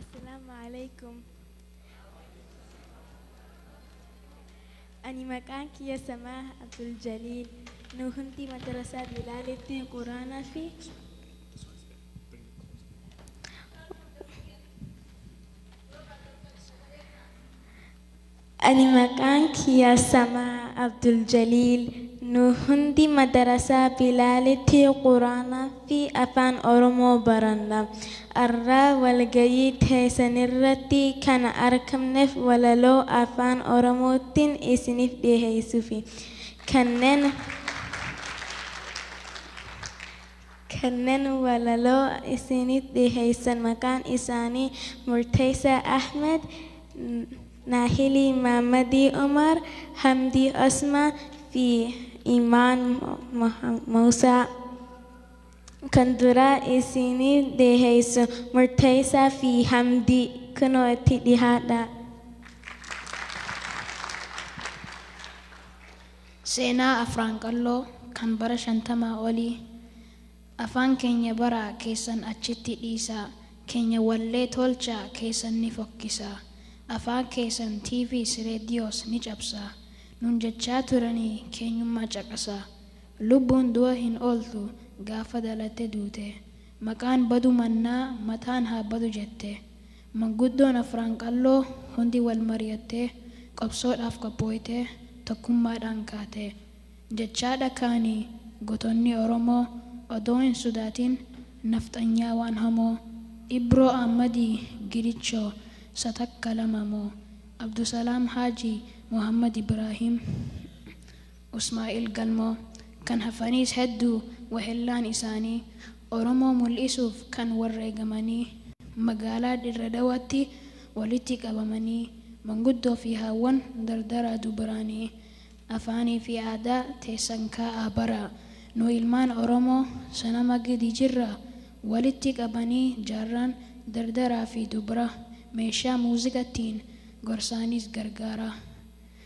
Assalaamu Aleykum. Ani maqaan kiyya Samaah Abdul Jaliil. Nu hundi madarasaa Bilaalitti Quraanaa fi Ani maqaan kiyya Samaa Abduljaliil nu hundi madarasaa Bilaalitti Quraanaafi Afaan Oromoo baranna. Arraa walgayii teesanirratti kana arkamnef walaloo Afaan Oromoottin isinif dhiheeysufi. Kannen. Kanneen walaloo isiinii dhiheessan maqaan isaanii Murteessaa Ahmed, Naahilii Maammadii Umar, Hamdii Osmaan fi Imaan Muusaa. Kan duraa isiinii dhiheessu Murteessaa fi Hamdii. Kunoo itti dhihaadhaa. Seenaa Afraan Qalloo kan bara shantamaa olii Afaan keenya baraa keessan achitti dhiisaa keenya wallee tolchaa keessan ni fokkisaa Afaan keessan TVs Redios ni cabsaa nuun jechaa turanii keenyummaa caqasaa Lubbuun du'a hin ooltu gaafa dhalatte duute Maqaan badu mannaa mataan haa badu jette Manguddoon Afran Qalloo hundi wal mari'attee, qabsoodhaaf qophooytee, tokkummaadhaan kaate. Jechaadha kaani gotonni Oromoo odoo hin sudaatin nafxanyaa waan hamoo, Ibroo Ahmadii Gidichoo sa takka lama moo, Abdusalaam Haajii Mohammed Ibraahiim Usmaa'il Galmoo, kan hafaniis hedduu wahellaan isaanii Oromoo mul'isuuf kan warreegamanii magaalaa Dirre Dawaatti walitti qabamanii manguddoo fi haawwan dardaraa dubaraanii afaanii fi aadaa teessan kaa'aa baraa nu ilmaan Oromoo sanama gidi jirraa walitti qabanii jaarraan dardaraa fi dubraa meeshaa muuziqattiin gorsaaniis gargaaraa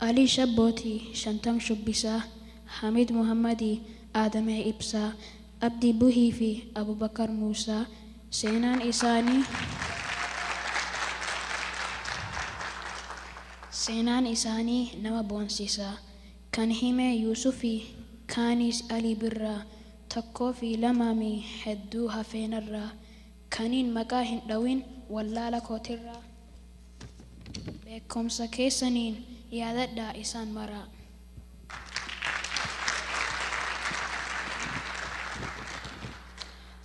Alii Shabbooti, Shantam Shubbisaa, Hamiid Muhammadi, Aadamee Ibsaa, Abdii Buhii fi Abubakar Muusaa seenaan isaanii seenaan isaanii nama boonsisa. Kan hime Yuusufi, kaanis Alii Birraa, tokkoo fi lama mi hedduu hafee narraa. Kaniin maqaa hin dhawin wallaala kootirraa beekkomsa keessaniin yaadadhaa isaan maraa.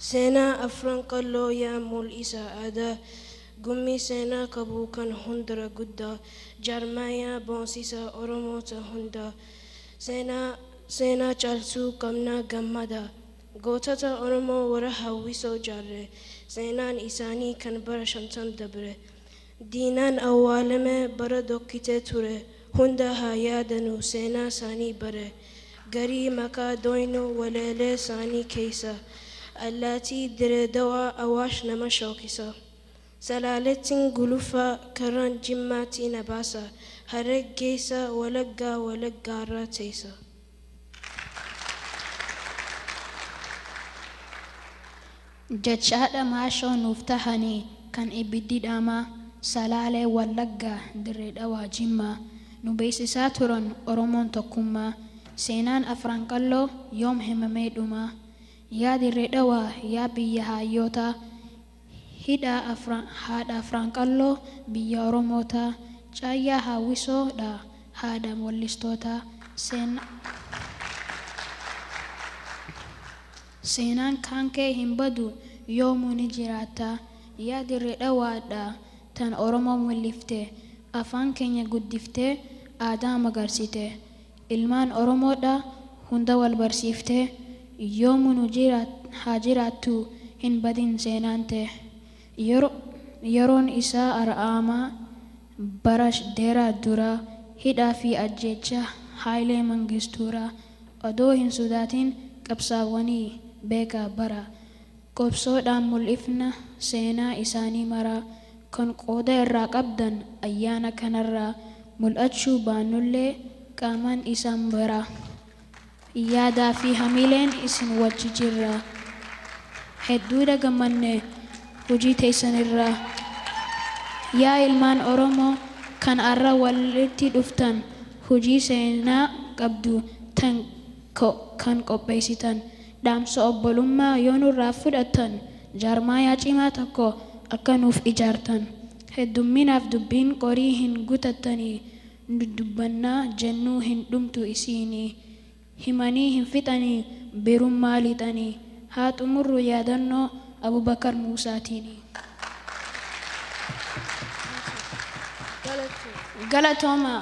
Seenaa Afran Qalloo yaa mul'isa aadaa Gummii seenaa qabu kan hundra guddaa Jaarmayaa boonsisaa Oromoota hundaa Seenaa seenaa caalsuu qabnaa gammadaa. Gootota Oromoo warra hawwisoo jaarre, seenaan isaanii kan bara shantam dabre, diinaan awwaalame, bara dhokkitee ture hunda haa yaadanu seenaa isaanii bare garii maqaa dhooynu waleelee isaanii keessa allaatii Diree Dawaa Awaash nama shookisa Salaalettin guluffa karraan Jimmaatti na baasa Harreeg geessa Walaggaa Wallaggaarra teessa. Jechaadha maashoo nuuf tahani kan ibiddi dhaamaa Salaalee Wallaggaa Dirree Dhawaa Jimmaa nu beeksisaa turan Oromoon tokkummaa Seenaan Afran Qalloo yoom himamee dhumaa Yaa Dirree Dhawaa yaa biyya haayyootaa Hidhaa Afran haadha Afran Qalloo biyya Oromoota Caayyaa Haawwisoo dha Haadha Wallistoota Seenaa Seenaan kaankee hin badu Yoomuu ni jiraatta Yaa Dirree Dhawaa Hadha tan Oromoo Mul'ifte Afaan keenya guddiftee Aadaa magarsite Ilmaan oromoodha hunda wal barsiifte yoomu nu haa jiraattu hin badin seenaan tee yeroon isaa ar'aama bara dheera dura hidhaa fi ajjeecha haayilee mangistuura odoo hin sodaatin qabsaawanii beeka bara Qobsoodhaan mul'ifna seenaa isaanii maraa kan qooda irraa qabdan ayyaana kanarraa mul'achuu baannullee qaamaan isaan bira yaadaa fi hamiileen isin wajji jirra. Hedduudha gammanne hojii teessan irraa. Yaa ilmaan Oromoo kan arra walitti dhuftan hojii seenaa qabdu tan kan qopheessitan. Dhaamsa obbolummaa yoo nurraa fudhattan jaarmaayaa cimaa tokko akka nuuf ijaartan heddumminaaf dubbiin qorii hin gutattanii nu dubbannaa jennuu hin dhumtu isiinii himanii hin fixanii birummaa lixanii haa xumurru yaadannoo Abubakar Muusaatiinii. Galatoomaa.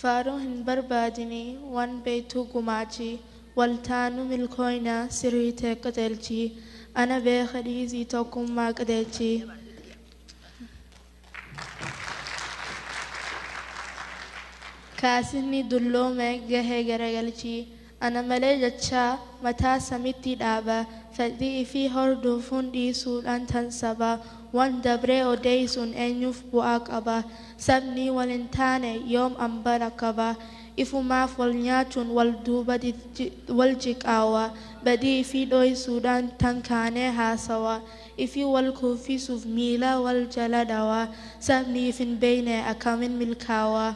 Faaruu hin barbaadini waan beektuu gumaachi wal taanu milkooyna sirrii ta'e qajeelchi ana beeka dhiisii tokkummaa qajeelchi. Kaasifni dulloome gahee garagalchi. Ana malee jechaa mataa samitti dhaaba Fedhii ifii hordofuun dhiisuudhaan tan saba Wan dabree odeeysuun eenyuuf bu'aa qaba Sabnii wal hin taane yoom ambara qaba Ifumaaf wal nyaachuun wal duuba wal jiqaawa Badii ifii dhooysuudhaan tan kaanee haasawa Ifii wal kuffisuuf miila wal jala dhawaa. Sabni if hin beekne akkamiin milkaawa?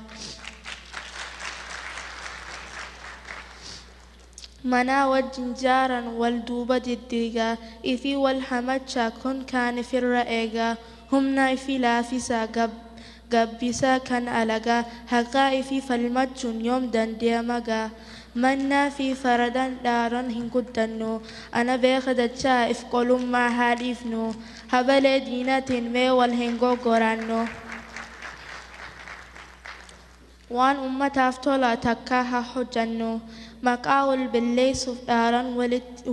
Manaa wajjin jaaran wal duuba diddiigaa. Ifii wal hamachaa kun kaan ifirra eegaa. Humna ifii laafisaa. gabbisa kan alagaa haqaa ifi falmachuun yoom dandeyama gaa mannaa fi faradaan dhaaran hin guddannu ana beeka jachaa if qolummaa haa dhiifnu habalee diinatiin mee wal hin goggoraannu waan ummataaf tola takkaa haa hojjannu maqaa wal belleessuuf dhaaran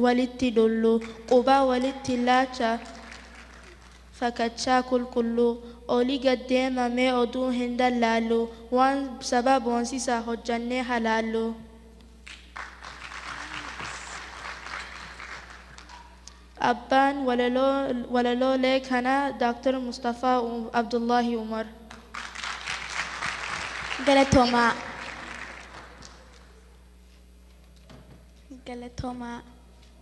walitti dullu qubaa walitti laacha fakachaa qulqulluu. Oli gad deema mee oduu hin dallaalluu waan saba boonsisaa hojjannee ha laalluu. Abbaan walaloolee kanaa Dr. Mustafaa Abdullaahi Umar. Galatoomaa. Galatoomaa.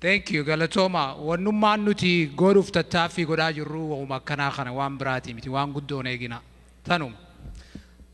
Thank you galatooma wannummaan nuti godhuuf tattaaffii godhaa jirru wahuma akkanaa kana waan biraatii miti waan guddoon eegina tanuma.